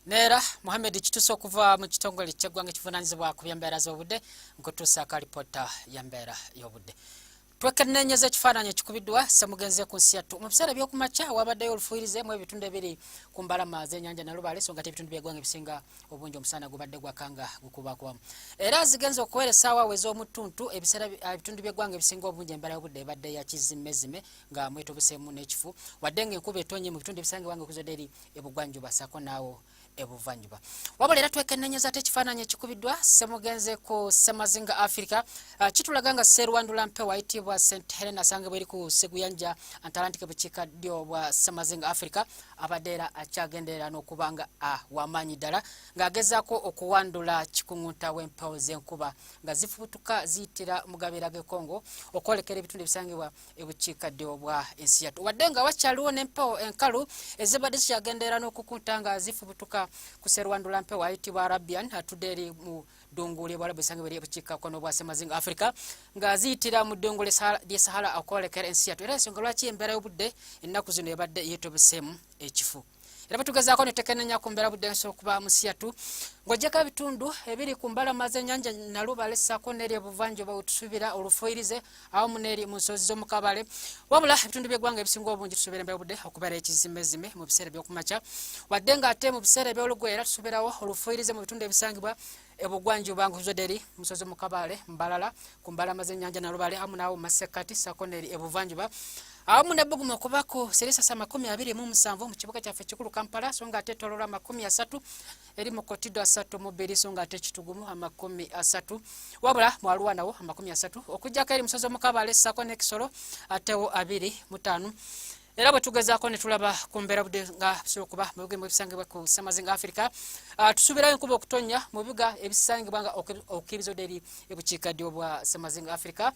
neera muhammed kitusa okuva mu kitongole kyeggwanga ekivunanyizibwa ku byembeera z'obudde nkutuusa akalipoota yembeera y'obudde twekennenyeza ekifaananyi ekikubiddwa semugenze ku nsi yattu mu biseera ebyokumakya wabaddeyo olufuirize mu ebitundu ebiri ku mbalama zenyanja nalubaale so nga tebitundu byegwanga ebisinga obungi omusana gubadde gwakanga gukubakubamu era zigenze okuwera esaawa we z'omuttuntu ebiseera ebitundu byegwanga ebisinga obungi embeera y'obudde ebadde yakizimmezime nga mwetobesemu n'ekifu wadde nga enkuba etonye mu bitundu ebisangibwa nga okuzadde eri ebugwanjuba ssaako naawo ebuvanjuba wabula era twekennenyeza ate ekifaananyi ekikubiddwa semugenze ku semazinga africa ah, kitulaga nga serwandula mpe wayitibwa st helen asanga bweri ku seguyanja antalantike bukiika ddyo bwa semazinga africa abadde era akyagenderera n'okuba nga ah, wamaanyi ddala ng'agezaako okuwandula kikuŋunta w'empewo z'enkuba nga zifubutuka ziyitira mu gabeera g'ekongo okwolekera ebitundu ebisangibwa ebukiikaddyo bwa ensi yattu wadde nga wakyaliwo n'empewo enkalu ezibadde zikyagendeera n'okukunta nga zifubutuka ku serwandula mpewo ayitibwa arabian atudde eri mu ddungu ly'ebwalabu esange beri ebukiikakkono bwa semazinga africa nga ziyitira mu ddungu ly'e sahara okwolekera ensi yattu era ensonga lwaki embeera y'obudde ennaku zino ebadde yeetobeseemu ekifu era batugezaako netekenenya ku mbeera budde nsobola okuba musiyatu ng'ogyeko ebitundu ebiri ku mbalama z'ennyanja nalubale ssaako n'eri ebuvanjuba wetusuubira olufuyirize awamu n'eri mu nsozi z'omukabale wabula ebitundu by'eggwanga ebisinga obungi tusuubira embeera budde okubeera ekizimezime mu biseera eby'okumakya wadde ng'ate mu biseera eby'olugweera tusuubirawo olufuyirize mu bitundu ebisangibwa ebugwanjuba nkuzodde eri musozi mukabaale mbalala ku mbalama z'ennyanja nalubale amu naawo mu masekkati sako neeri ebuvanjuba awamu nebbugumu okubako seresasa amakumi abiri mu musanvu mu kibuga kyaffe ekikulu kampala so nga ate etololwa amakumi asatu eri mu kotido asatu mu bbiri so nga ate ekitugumu amakumi asatu wabula mwaluwa nawo amakumi asatu okujjako eri musozi omukabaale sako n'ekisolo atewo abiri mutaano era bwe tugezaako ne tulaba ku mbeera budde nga bisobola okuba mu bigambo ebisangibwa ku ssemazinga afirika ah, tusuubirayo enkuba okutonnya mu bibuga ebisangibwa nga okukiriza odde eri ebukiika ddyo bwa ssemazinga afirika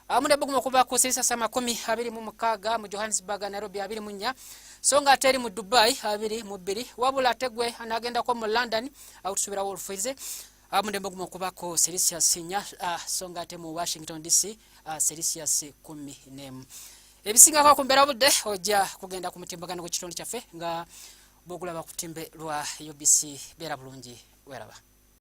awamu ah, nebuguma okuva ku sisasa amakumi abiri mu mukaaga mu johannesburg nairobi abiri mu nnya so nga ate eri mu dubai abiri mu bbiri wabula ate gwe anaagendako mu london awo tusuubirawo olufuize amudembe ah, gumu okubako celsius nya so nga ate mu washington dc celsius kumi nemu ebisingako ku mbeera budde ojja kugenda ku mutimbagano gw'ekitundu kyaffe nga bwogulaba ku timbe lwa ubc beera bulungi weraba